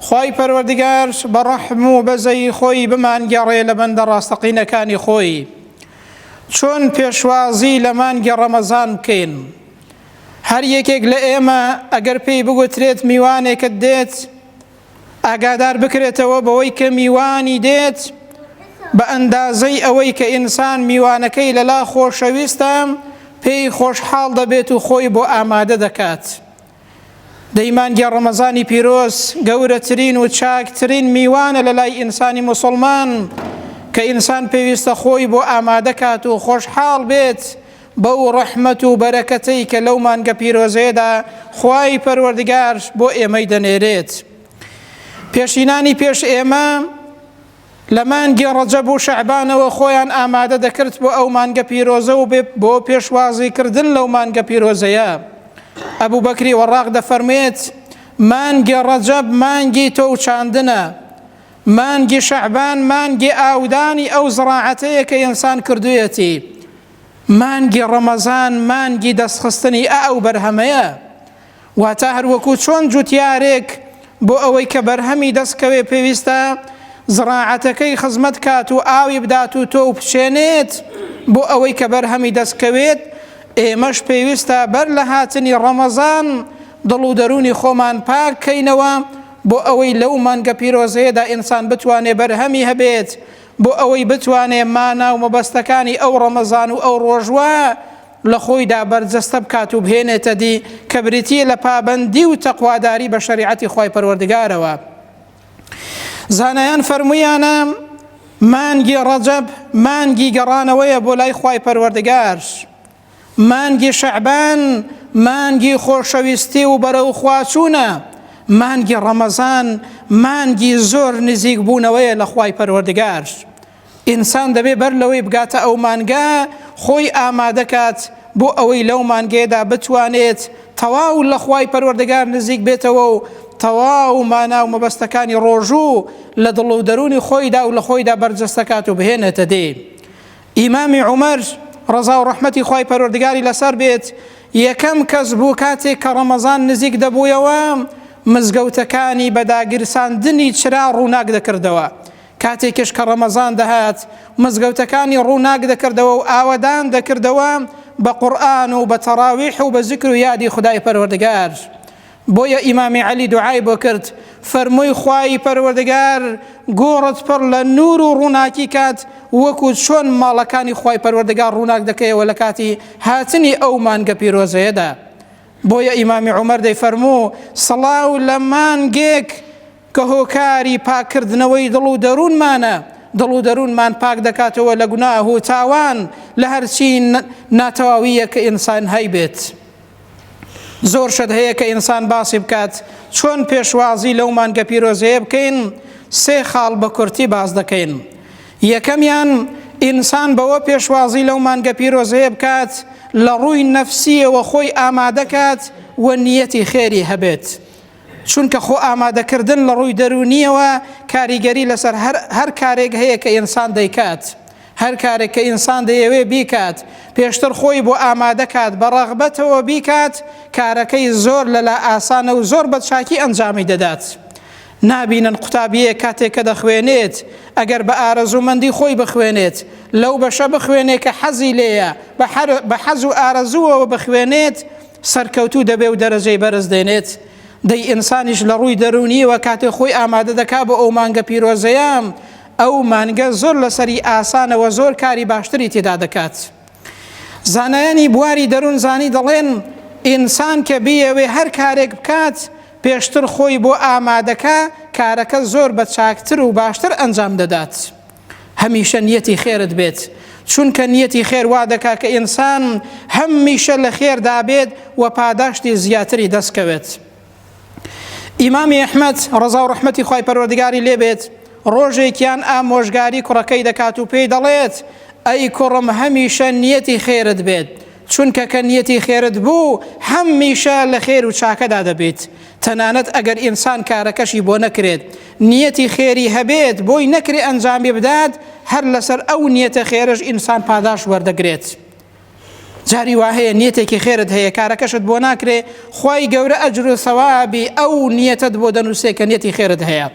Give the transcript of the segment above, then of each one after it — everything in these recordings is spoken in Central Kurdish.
خوای پەروەردگار بە ڕەحم و بەزەیی خۆی بمانگێڕێ لە بەندە ڕاستەقینەکانی خۆی چۆن پێشوازی لە مانگی ڕەمەزان بکەین هەر یەکێک لە ئێمە ئەگەر پێی بگوترێت میوانێکت دێت ئاگادار بکرێتەوە بەوەی کە میوانی دێت بە ئەندازەی ئەوەی کە ئینسان میوانەکەی لەلا خۆشەویستە پێی خۆشحاڵ دەبێت و خۆی بۆ ئامادە دەکات دەی مانگی ڕەمەزانی پیرۆز گەورەترین و چاکترین میوانە لە لای ئینسانی مسلمان کە ئینسان پێویستە خۆی بۆ ئامادەکات و خۆشحاڵ بێت بەو ڕەحمەت و بەرەکەتەی کە لەو مانگە پیرۆزێدا خوای پەروەردگار بۆ ئێمەی دەنێرێت پێشینانی پێش ئێمە لە مانگی ڕەجەب و شەعبانەوە خۆیان ئامادە دەکرد بۆ ئەو مانگە پیرۆزە و بۆ پێشوازی کردن لەو مانگە پیرۆزەیە ئەبوو بەکری وەڕاق دەفەرمێت مانگی ڕەجەب مانگی تۆ و چاندنە مانگی شەعبان مانگی ئاودانی ئەو زڕاعەتەیە کە ئینسان کردویەتی مانگی ڕەمەزان مانگی دەستخستنی ئەو بەرهەمەیە واتە هەروەکو چۆن جوتیارێک بۆ ئەوەی کە بەرهەمی دەست کەوێ پێویستە زڕاعەتەکەی خزمەت کات و ئاوی بدات و تۆو پچێنێت بۆ ئەوەی کە بەرهەمی دەست کەوێت ئێمەش پێویستە بەر لە هاتنی ڕەمەزان دڵ و دەرونی خۆمان پاک کەینەوە بۆ ئەوەی لەو مانگە پیرۆزەیەدا ئینسان بتوانێ بەرهەمی هەبێت بۆ ئەوەی بتوانێ مانا و مەبەستەکانی ئەو ڕەمەزان و ئەو ڕۆژوە لە خۆیدا بەرجەستە بکات و بهێنێتە دی کە بریتییە لە پابەندی و تەقواداری بە شەریعەتی خوای پەروەردگارەوە زانایان فەرموویانە مانگی ڕەجەب مانگی گەڕانەوەیە بۆ لای خوای پەروەردگار مانگی شەعبان مانگی خۆشەویستی و بەرەو خواچوونە مانگی ڕەمەزان مانگی زۆر نزیک بوونەوەیە لە خوای پەروەردگار ئینسان دەبێ بەر لەوەی بگاتە ئەو مانگە خۆی ئامادە کات بۆ ئەوەی لەو مانگەیەدا بتوانێت تەواو لە خوای پەروەردگار نزیک بێتەوە و تەواو مانا و مەبەستەکانی ڕۆژوو لە دڵ و دەرونی خۆیدا و لە خۆیدا بەرجەستەکات و بهێنێتە دێ ئیمامی عمر ڕزا و ڕحمەتی خی پەروەردگاری لەسەر بێت یەکەم کەس بوو کاتێک کە ڕەمەزان نزیک دەبوویەوە مزگەوتەکانی بەداگیرساندنی چرا ڕووناک دەکردەوە کاتێکیش کە ڕەمەزان دەهات، مزگەوتەکانی ڕووناک دەکردەوە و ئاوەدان دەکردەوە بە قورئان و بە تەڕاویح و بە زیکر و یادی خودای پەروەردگار. بۆیە ئیمامی عەلی دوعای بۆ کرد، فەرمووی، خوای پەروەردگار گۆڕت پڕ لە نوور و ڕووناکی کات، وەکو چۆن ماڵەکانی خوای پەروەردگار ڕووناک دەکەیەوە لە کاتی هاتنی ئەو مانگە پیرۆزەیەدا. بۆیە ئیمامی عومەر دەیفەرموو، سڵاو لە مانگێک، کە هۆکاری پاککردنەوەی دڵ و دەروونمانە، دڵ و دەروونمان پاک دەکاتەوە لە گوناه و تاوان، لە هەرچی ناتەواوییەک کە ئینسان هەیبێت. زۆر شت هەیە کە ئینسان باسی بکات، چۆن پێشوازی لەو مانگە پیرۆزەیە بکەین، سێ خاڵ بە کورتی باس دەکەین. یەکەمیان، ئینسان بەوە پێشوازی لەو مانگە پیرۆزەیە بکات، لە ڕووی نەفسییەوە خۆی ئامادەکات و نییەتی خێری هەبێت. چونکە خۆ ئامادەکردن لە ڕووی دەروونییەوە کاریگەری لەسەر هەر هەر کارێک هەیە کە ئینسان دەیکات. هەر کارێک کە ئینسان دەیەوێ بیکات، پێشتر خۆی بۆ ئامادە کات بە ڕەغبەتەوە بیکات، کارەکەی زۆر لەلا ئاسانە و زۆر بە چاکی ئەنجامی دەدات. نابینن قوتابییەک کاتێک کە دەخوێنێت، ئەگەر بە ئارەزوومەندی خۆی بخوێنێت، لەو بەشە بخوێنێ کە حەزی لێیە، بە حەز و ئارەزووەوە بخوێنێت، سەرکەوتوو دەبێ و دەرەجەی بەرز دێنێت دەی ئینسانیش لە ڕووی دەرونیەوە کاتێ خۆی ئامادە دەکا بۆ ئەو مانگە پیرۆزەیەم ئەو مانگە زۆر لەسەری ئاسانەوە زۆر کاری باشتری تێدا دەکات زانایانی بواری دەروون زانی دەڵێن ئینسان کە بیەوێ هەر کارێک بکات پێشتر خۆی بۆ ئامادەکە کارەکە زۆر بە چاکتر و باشتر ئەنجام دەدات. هەمیشە نیەتی خێرت بێت چونکە نیەتی خێر وا دەکا کە ئینسان هەمیشە لە خێردا بێت و پاداشتی زیاتری دەستکەوێت ئیمامی ئەحمد ڕزا و ڕحمەتی خی پەروەردگاری لێبێت ڕۆژێکیان ئامۆژگاری کوڕەکەی دەکات و پێی دەڵێت ئەی کوڕم هەمیشە نیەتی خێرت بێت چونکە کە نیەتی خێرت بوو هەمیشە لە خێر و چاکەدا دەبیت تەنانەت ئەگەر ئینسان کارەکەشی بۆ نەکرێت نیەتی خێری هەبێت بۆی نەکرێ ئەنجامی بدات هەر لەسەر ئەو نیەتە خێرش ئینسان پاداش وەردەگرێت جاری وا هەیە نیەتێکی خێرت هەیە کارەکەشت بۆ ناکرێ خی گەورە ئەجر و سەوابی ئەو نیەتت بۆ دەنووسێ کە نیەتی خێرت هەیە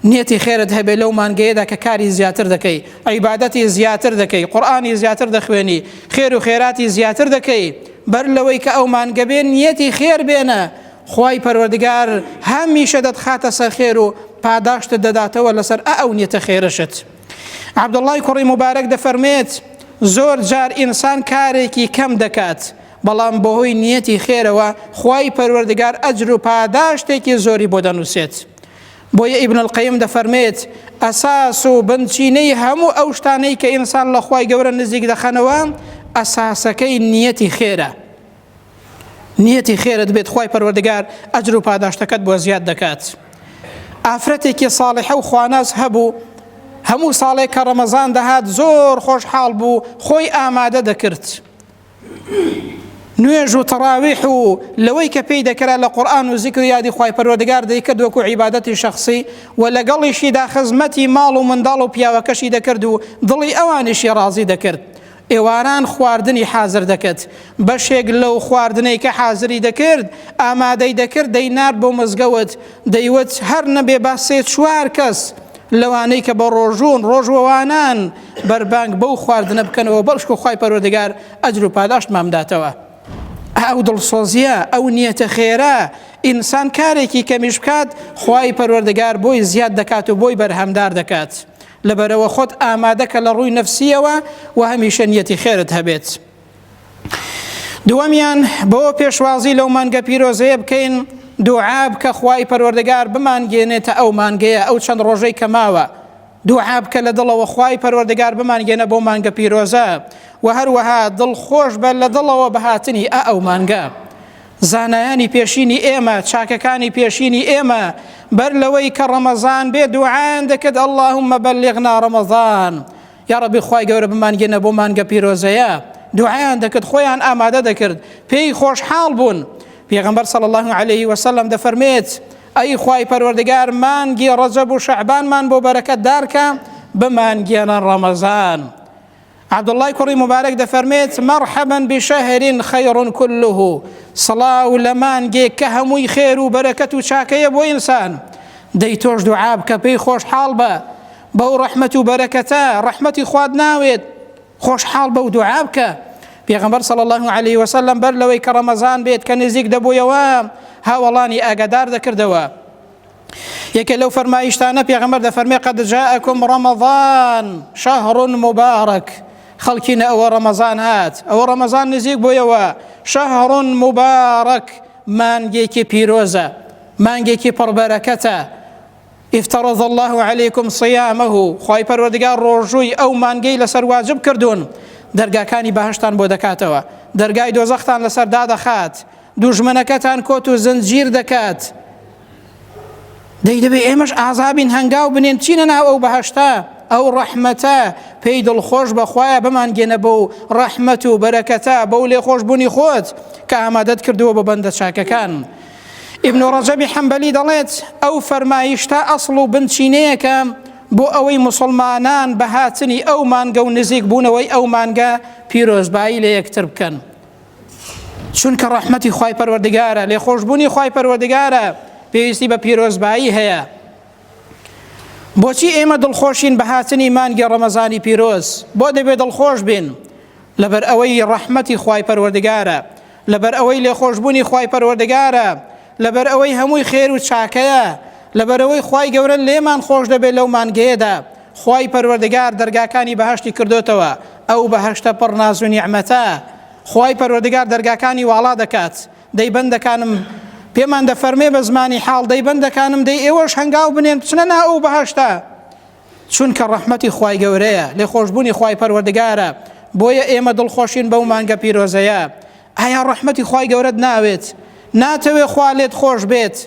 نیەتی خێرت هەبێ لەو مانگەیەدا کە کاری زیاتر دەکەی عیبادەتی زیاتر دەکەی قورئانی زیاتر دەخوێنی خێر و خێراتی زیاتر دەکەی بەر لەوەی کە ئەو مانگە بێ نیەتی خێر بێنە خوای پەروەردگار هەمیشە دەتخاتە سەر خێر و پاداشتت دەداتەوە لەسەر ئە ئەو نیەتە خێرەشت عبداللهی کوڕی مبارەک دەفەرمێت زۆر جار ئینسان کارێکی کەم دەکات بەڵام بەهۆی نیەتی خێرەوە خوای پەروەردگار ئەجر و پاداشتێکی زۆری بۆ دەنووسێت بۆیە ئیبن القیم دەفەرمێت، ئەساس و بنچینەی هەموو ئەو شتانەی کە ئینسان لە خوای گەورە نزیک دەخەنەوە، ئەساسەکەی نیەتی خێرە. نیەتی خێرت بێت خوای پەروەردگار ئەجر و پاداشتەکەت بۆ زیاد دەکات. ئافرەتێکی ساڵحە و خواناس هەبوو، هەموو ساڵێک کە ڕەمەزان دەهات زۆر خۆشحاڵ بوو، خۆی ئامادە دەکرد. نوێژ و تەڕاویح و لەوەی کە پێی دەکرا لە قورآن و زیکر و یادی خی پەروەردگار دەیکرد وەکو عیبادەتی شخصی و لەگەڵیشیدا خزمەتی ماڵ و منداڵ و پیاوەکەشی دەکرد و دڵی ئەوانیشی ڕازی دەکرد ئێواران خواردنی حازر دەکرد بەشێک لەو خواردنەی کە حازری دەکرد ئامادەی دەکرد دەینارد بۆ مزگەوت دەیوت هەر نەبێ با سێ چوار کەس لەوانەی کە بە ڕۆژوون ڕۆژوەوانان بەربانگ بەو خواردنە بکەنەوە بەڵشکۆ خوای پەروەردگار ئەجر و پاداشتمان بداتەوە ئەو دڵسۆزیە ئەو نیەتە خێرە ئینسان کارێکی کەمیش بکات خوای پەروەردگار بۆی زیاد دەکات و بۆی بەرهەمدار دەکات لەبەرەوە خۆت ئامادەکە لە ڕووی نەفسیەوە و هەمیشە نیەتی خێرت هەبێت دووەمیان بۆ پێشوازی لەو مانگە پیرۆزەیە بکەین دوعاب کە خوای پەروەردگار بمانگێنێتە ئەو مانگەیە ئەو چەند ڕۆژەی کە ماوە دوعا بکە لە دڵەوە خوای پەروەردگار بمانگەێنە بەو مانگە پیرۆزە و هەروەها دڵ خۆش بە لە دڵەوە بە هاتنی ئا ئەو مانگە زانایانی پێشینی ئێمە چاکەکانی پێشینی ئێمە بەر لەوەی کە ڕەمەزان بێ دوعایان دەکرد اللهم بەلغنا ڕەمەزان یا ڕەبی خوای گەورە بمانگەێنە بۆ مانگە پیرۆزەیە دوعایان دەکرد خۆیان ئامادە دەکرد پێی خۆشحاڵ بوون پێغمبەر صلی الله عليه وسلم دەفەرمێت ئەی خوای پەروەردگار مانگی ڕەجەب و شەعبانمان بۆ بەرەکەت دارکە بمانگێنە ڕەمەزان عبداللەی کوڕی مبارەک دەفەرمێت مەرحەبەن بشەهرین خەیڕون کله سڵاو لە مانگێک کە هەمووی خێر و بەرەکەت و چاکەیە بۆ ئینسان دەی تۆش دوعاب کە پێی خۆشحاڵ بە بەو ڕەحمەت و بەرەکەتە ڕەحمەتی خواد ناوێت خۆشحاڵ بە و دوعا بکە پێغمبەر صلی الله عليه وسلم بەر لەوەی کە ڕەمەزان بێت کە نزیک دەبوویەوە هاوەڵانی ئاگادار دەکردەوە یەکێ لەو فەرمایشتانە پێغمبەر دەفەرمێ قد جاءكم رمضان شهر مبارك خەڵکینە ئەوە ڕەمەزان هات ئەوە ڕەمەزان نزیک بۆیەوە شهر مبارك مانگێکی پیرۆزە مانگێکی پڕبەرەکەتە افترض الله عليكم صيامه خوای پەروەردگار ڕۆژووی ئەو مانگەی لەسەر واجب کردوون دەرگاکانی بەهشتان بۆ دەکاتەوە دەرگای دۆزەختان لەسەر دادەخات دوژمنەکەتان کۆت و زنجیر دەکات دەی دەبێ ئێمەش ئازابین هەنگاو بنێن چینە ناو ئەو بەهشتا ئەو ڕەحمەتە پێی دڵخۆش بەخوایە بمانگەێنە بە و ڕەحمەت و بەرەکەتە بەو لێ خۆش بوونی خۆت کە ئامادەت کردووە بە بەندە چاکەکان. ئیبن ڕەجەبی حەمبەلی دەڵێت ئەو فەرمایشتە ئەسڵ و بنچینەیەکە بۆ ئەوەی مسلمانان بە هاتنی ئەو مانگە و نزیک بوونەوەی ئەو مانگە پیرۆزبایی لە یەکتر بکەن چونکە ڕەحمەتی خی پەروەردگارە لێ خۆشببوونی خی پەروەردگارە پێویستی بە پیرۆزبایی هەیە بۆچی ئێمە دڵخۆشین بە هاتنی مانگی ڕەمەزانی پیرۆز بۆ دەبێت دڵخۆش بین لەبەر ئەوەی ڕەحمەتی خی پەروەردگارە لەبەر ئەوەی لێخۆشبوونی خوای پەروەردگارە، لەبەر ئەوەی هەمووی خێر و چاکەیە، لەبەر ئەوەی خوای گەورە لێمان خۆش دەبێت لەو مانگەیەدا، خوای پەروەردگار دەرگاکانی بەهەشتی کردۆتەوە، ئەو بەهەشتە پڕ ناز و نیعمەتە، خوای پەروەردگار دەرگاکانی واڵا دەکات، دەی بەندەکانم پێمان دەفەرمێ بە زمانی حاڵ، دەی بەندەکانم دەی ئێوەش هەنگاو بنێن بچنە ناو ئەو بەهەشتە، چونکە ڕەحمەتی خوای گەورەیە لێ خۆشببوونی خوای پەروەردگارە بۆیە ئێمە دڵخۆشین بەو مانگە پیرۆزەیە ئایا ڕەحمەتی خوای گەورەت ناوێت ناتەوێ خوا لێت خۆش بێت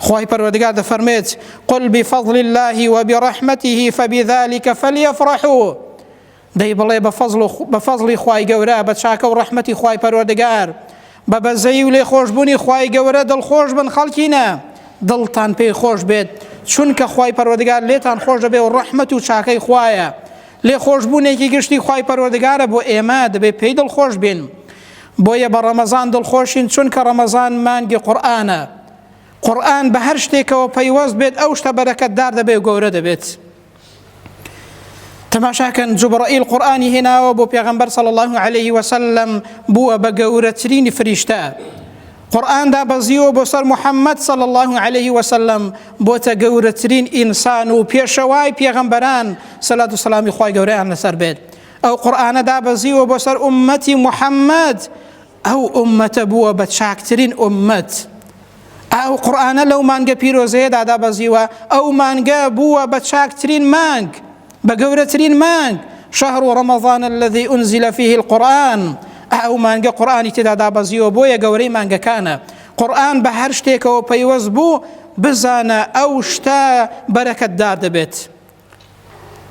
خوای پەروەردگار دەفەرمێت قل بفضل الله وبرحمته فبذلك فليفرحوا دەی بڵێ بە فەزڵ و بە فەزڵی خوای گەورە بە چاکە و ڕەحمەتی خوای پەروەردگار بە بەزەیی و لێخۆشبوونی خوای گەورە دڵخۆش بن خەڵکینە دڵتان پێی خۆش بێت چونکە خوای پەروەردگار لێتان خۆش دەبێ و ڕەحمەت و چاکەی خوایە لێخۆشبوونێکی گشتی خوای پەروەردگارە بۆ ئێمە دەبێ پێی دڵخۆش بین بۆیە بە ڕەمەزان دڵخۆشین چونکە ڕەمەزان مانگی قورآانە قورآن بە هەر شتێکەوە پەیوەست بێت ئەو شتە بەرەکەتدار دەبێ و گەورە دەبێت. تەماشاکەن جوبڕئیل قورآانی هێناوە بۆ پێغمبەر صلی الله عليه وسلم بووە بە گەورەترینی فریشتە قورآاندا بەزیوە بۆ سەر محەممەد صلی الله عليه وسلم بۆتە گەورەترین ئینسان و پێشەوای پێغمبەران سەلات و سلامی خی گەوریان لەسەر بێت ئەو قورآانەدا بەزیوە بۆ سەر ئومەتی محەممەد ئەو ئومەتە بووە بە چاکترین ئومەت ئەو قورآانە لەو مانگە پیرۆزەیەدا دابەزیوە ئەو مانگە بووە بە چاکترین مانگ بە گەورەترین مانگ شهر ڕەمەضان الذي أنزل فيه القرآن ئەو مانگە قورآانی تێدا دابەزیوە بۆیە گەورەی مانگەکانە قورآن بە هەر شتێکەوە پەیوەست بوو بزانە ئەو شتە بەرەکەتدار دەبێت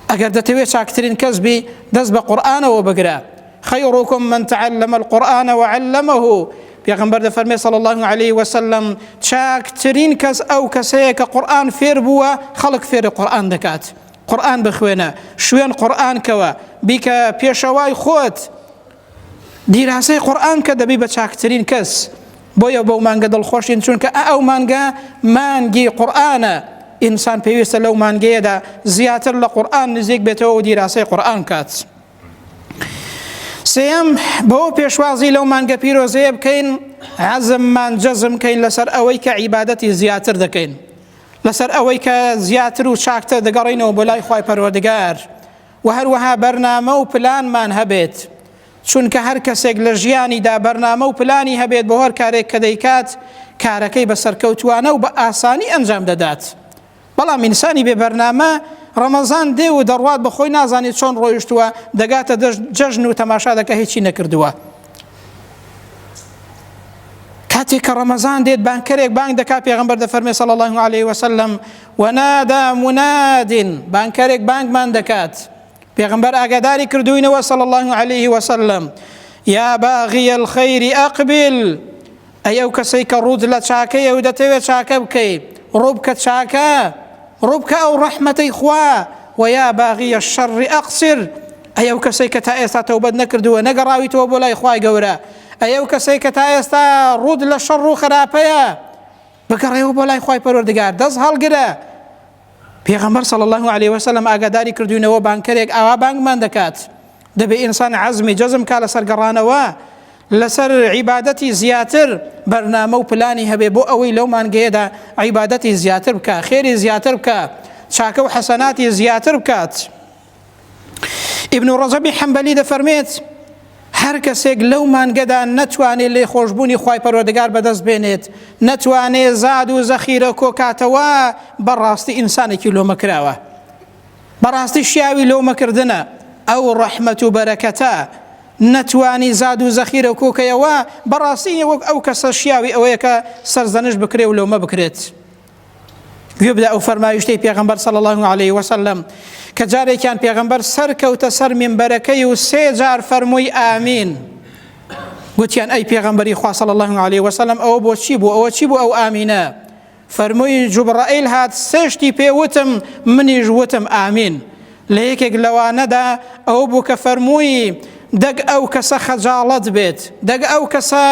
ئەگەر دەتەوێت چاکترین کەس بی دەست بە قورآانەوە بگرە خەیڕۆکم من تعلم القرآن وعلمه پێغمبەر دەفەرمێ صلى الله عليه وسلم چاکترین کەس ئەو کەسەیە کە قورآن فێر بووە خەڵک فێرە قورآن دەکات قورآن بخوێنە شوێن قورآن کەوە بیکە پێشەوای خۆت دیراسەی قورئان کە دەبی بە چاکترین کەس بۆیە بەو مانگە دڵخۆشین چونکە ئەو مانگە مانگی قورئانە ئینسان پێویستە لەو مانگەیەدا زیاتر لە قورئان نزیک بێتەوە و دیراسەی قورئان کات سێم بەو پێشوازی لەو مانگە پیرۆزەیە بکەین عزممان جەزم کەین لەسەر ئەوەی کە عیبادەتی زیاتر دەکەین لەسەر ئەوەی کە زیاتر و چاکتە دەگەڕینەوە بۆ لای خی پەروەردگار و هەروەها بەرنامە و پلانمان هەبێت، چونکە هەر کەسێک لە ژیانیدا بەرنامە و پلانی هەبێت بۆ هەر کارێک کە دەیکات، کارەکەی بە سەرکەوتووانە و بە ئاسانی ئەنجام دەدات. بەڵام ئینسانی بێ بەرنامە، ڕەمەزان دێ و دەڕوات بە خۆی نازانێت چۆن ڕۆیشتووە، دەگاتە دەشت جەژن و تەماشا دەکات هیچی نەکردووە. کاتێک کە ڕەمەزان دێت بانگکەرێک بانگ دەکات پێغەمبەر دەفەرمێت صلی اللە علیە وسلم، ونادی مناد بانگکەرێک بانگمان دەکات پێغمبەر ئاگاداری کردوینەوە صلی الله علیه وسلم یا باغی الخیر اقبل ئەی ئەو کەسەی کە ڕووت لە چاکەیە و دەتەوێت چاکە بکەی ڕووبکە چاکە ڕووبکە ئەو ڕەحمەتەی خوا و یا باغی الشر اقصر ئەی ئەو کەسەی کە تا ئێستا تەوبەت نەکردووە نەگەڕاویتەوە بۆ لای خوای گەورە ئەی ئەو کەسەی کە تا ئێستا ڕووت لە شەڕ و خراپەیە بگەڕێەوە بۆ لای خی پەروەردگار دەست هەڵگرە پێغەمبەر صلی الله عليه وسلم ئاگاداری کردوینەوە بانکەرێک ئاوا بانگمان دەکات دەبێ ئینسان عزمی جەزم کا لەسەر گەڕانەوە لەسەر عیبادەتی زیاتر بەرنامە و پلانی هەبێ بۆ ئەوەی لەو مانگەیەدا عیبادەتی زیاتر بکە خێری زیاتر بکە چاکە و حەسەناتی زیاتر بکات. ئیبن و ڕەجەبی حەمبەلی دەفەرمێت هەر کەسێک لەو مانگەدا نەتوانێت لێ خۆشببوونی خی پەرۆدەگار بەدەست بێنێت نەتوانێت زاد و زەخیرە کۆکاتەوە بەڕاستی ئینسانێکی لۆمە کراوە بەڕاستی شیاوی لۆمەکردە ئەو ڕەحمەت و بەرەکەتە نەتوانی زاد و زەخیرە کۆکەیەوە بەڕاستی وەک ئەو کەسە شیاوی ئەوەیەکە سەرزەنش بکرێ و لۆمە بکرێت گوێ بدە ئەو فەرمایشتەی پێغمبەر صلی الله عليه وسلم کە جارێکیان پێغمبەر سەرکەوتە سەر منبەرەکەی و سێ جار فەرمووی ئامین گوتیان ئەی پێغمبەری خوا صلی الله عليه وسلم ئەوە بۆچی بوو ئەوە چی بوو ئەو ئامینە فەرمووی جوبڕائیل هات سێشتی پێوتم منیش وتم ئامین لە یەکێک لەوانەدا ئەوە بوو کە فەرمووی، دەک ئەو کەسە خەجاڵەت بێت، دەک ئەو کەسە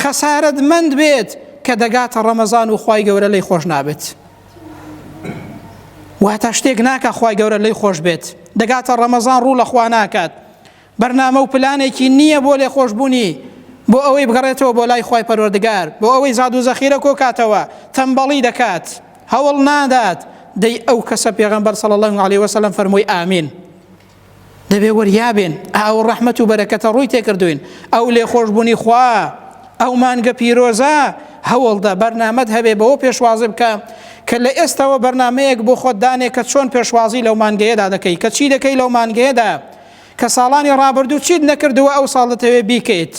خەسارەتمەند بێت کە دەگاتە ڕەمەزان و خوای گەورە لێی خۆش نابێت. واتە شتێک ناکا خوای گەورە لێی خۆش بێت، دەگاتە ڕەمەزان ڕوو لە خوا ناکات. بەرنامە و پلانێکی نییە بۆ لێخۆشبوونی، بۆ ئەوەی بگەڕێتەوە بۆ لای خوای پەروەردگار، بۆ ئەوەی زاد و زەخیرە کۆکاتەوە، تەمبەڵی دەکات، هەوڵ نادات، دەی ئەو کەسە پێغەمبەر صلی اللە علیە وسلم فەرمووی، ئامین. دەبێ وریا بێن، ئەو ڕەحمەت و بەرەکەتە ڕووی تێکردووین، ئەو لێخۆشبوونی خوا، ئەو مانگە پیرۆزە، هەوڵدە بەرنامەت هەبێ بەوە پێشوازی بکە کە لە ئێستەوە بەرنامەیەک بۆ خۆت دانێ کە چۆن پێشوازی لەو مانگەیەدا دەکەی، کە چی دەکەی لەو مانگەیەدا، کە ساڵانی ڕابردوو چیت نەکردووە ئەو ساڵ دەتەوێت بیکەیت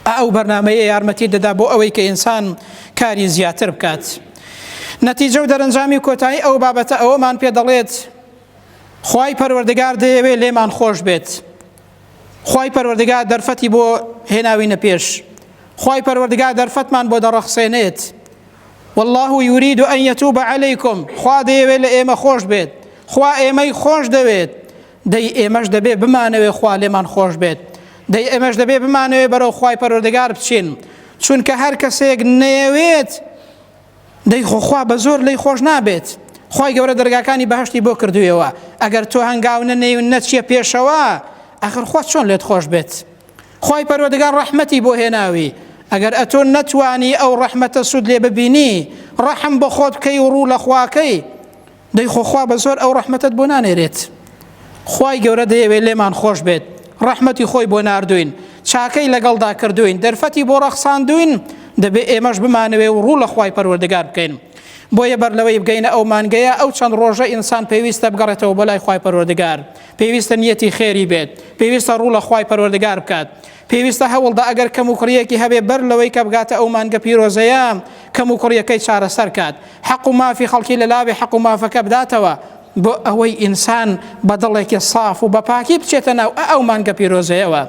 ئەو بەرنمەیە یارمەتی دەدا بۆ ئەوەی کە ئینسان کاری زیاتر بکات نەتیجە و دەرەنجامی کۆتایی ئەو بابەتە ئەوەمان پێ دەڵێت خی پەروەردگار دەیەوێ لێمان خۆش بێت خی پەروەردگار دەرفەتی بۆ هێناوینە پێش خی پەروەردگار دەرفەتمان بۆ دەڕەخسێنێت والله يريد أن يتوب عليكم خوا دەیەوێت لە ئێمە خۆش بێت خوا ئێمەی خۆش دەوێت دەی ئێمەش دەبێ بمانەوێ خوا لێمان خۆش بێت دەی ئێمەش دەبێ بمانەوێ بەرەو خوای پەرۆردەگار بچین چونکە هەر کەسێک نەیەوێت دەی خۆخوا بە زۆر لی خۆش نابێت خی گەورە دەرگاکانی بەهشتی بۆ کردویەوە ئەگەر تۆ هەنگاو نەنێون نەچیە پێشەوە ئەخر خۆ چۆن لێت خۆش بێت خوای پەروەردگار ڕەحمەتی بۆ هێناوی ئەگەر ئەتۆ نەتوانی ئەو ڕەحمەتە سود لێ ببینی ڕەحم بۆ خۆت بکەی و ڕوو لە خواکەی دەی خۆ خوا بە زۆر ئەو ڕەحمەتت بۆ نانێرێت خوای گەورە دەیەوێت لێمان خۆش بێت ڕەحمەتی خۆی بۆ ناردوین چاکەی لەگەڵدا کردوین دەرفەتی بۆ ڕەخساندوین دەبێ ئێمەش بمانەوێ و ڕوو لە خی پەروەردەگار بکەین بۆیە بەر لەوەی بگەینە ئەو مانگەیە ئەو چەند ڕۆژە ئینسان پێویستە بگەڕێتەوە بۆ لای خی پەروەردەگار پێویستە نیەتی خێری بێت پێویستە ڕوو لە خی پەروەردگار بکات پێویستە هەوڵدا ئەگەر کەم و کوڕیەکی هەبێ بەر لەوەی کە بگاتە ئەو مانگە پیرۆزەیە کەم و کوڕیەکەی چارەسەر کات حەق و مافی خەڵکی لە لاوێ حەق و مافەکە بداتەوە بۆ ئەوەی ئینسان بە دڵێکی ساف و بەپاکی بچێتە ناو ئەو مانگە پیرۆزەیەوە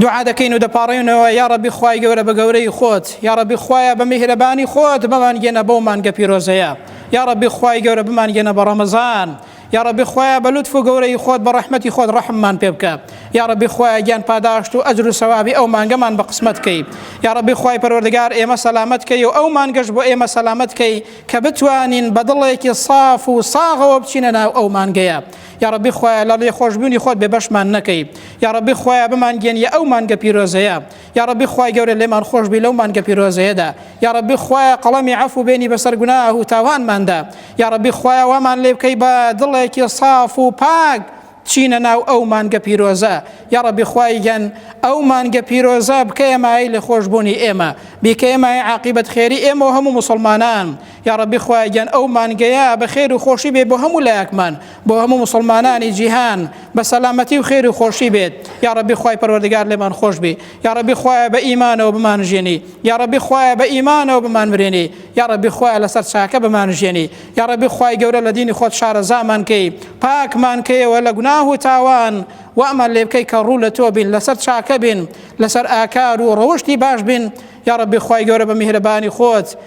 دوعا دەکەین و دەپاڕێنەوە یا ڕەبی خوای گەورە بە گەورەی خۆت یا ڕەبی خوایە بە میهرەبانی خۆت بمانگەێنە بەو مانگە پیرۆزەیە یا ڕەبی خوای گەورە بمانگەێنە بە ڕەمەزان یا ڕەبی خوایە بە لوتف و گەورەی خۆت بە ڕەحمەتی خۆت ڕەحممان پێ بکە یا ڕەبی خوایە گیان پاداشت و ئەجر و سەوابی ئەو مانگەمان بە قسمەت کەی یا ڕەبی خوای پەروەردگار ئێمە سەلامت کەی و ئەو مانگەش بۆ ئێمە سەلامت کەی کە بتوانین بە دڵێکی صاف و ساغەوە بچینە ناو ئەو مانگەیە یاڕەبی خوایە لە ڵێخۆشبوونی خۆت بێ بەشمان نەکەی یاڕەبی خوایە بمان گەێنیە ئەو مانگە پیرۆزەیە یاڕەبی خوای گەورە لێمان خۆشببی لەو مانگە پیرۆزەیەدا یاڕەبی خوایە قەڵەمی عفو و بێنی بەسەر گوناه و تاوانماندا یاڕەبی خوایە وامان لێ بکەی بە دڵێکی صاف و پاک چینە ناو ئەو مانگە پیرۆزە یاڕەبی خوایگەن ئەو مانگە پیرۆزە بکەیە مای لە خۆشببوونی ئێمە بیکەیە مای عقیبەت خێری ئێمە و هەموو مسلمانان یاڕەبی خوایە گیان ئەو مانگەیە بە خێر و خۆشی بێ بۆ هەموو لایەکمان بۆ هەموو مسلمانانی جیهان بە سەلامەتی و خێر و خۆشی بێت یاڕەبی خوای پەروەردگار لێمان خۆش بێ یاڕەبی خوایە بە ئیمانەوە بمان ژێنی یاڕەبی خوایە بە ئیمانەوە بمان مرێنی یاڕەبی خوایە لەسەر چاکە بمان ژێنی یاڕەبی خوای گەورە لە دینی خۆت شارەزامان کەی پاکمان کەیەوە لە گوناه و تاوان وامان لێ بکەی کە ڕوو لە تۆ بین لەسەر چاکە بین لەسەر ئاکار و ڕەوشتی باش بین یاڕەبی خوای گەورە بە میهرەبانی خۆت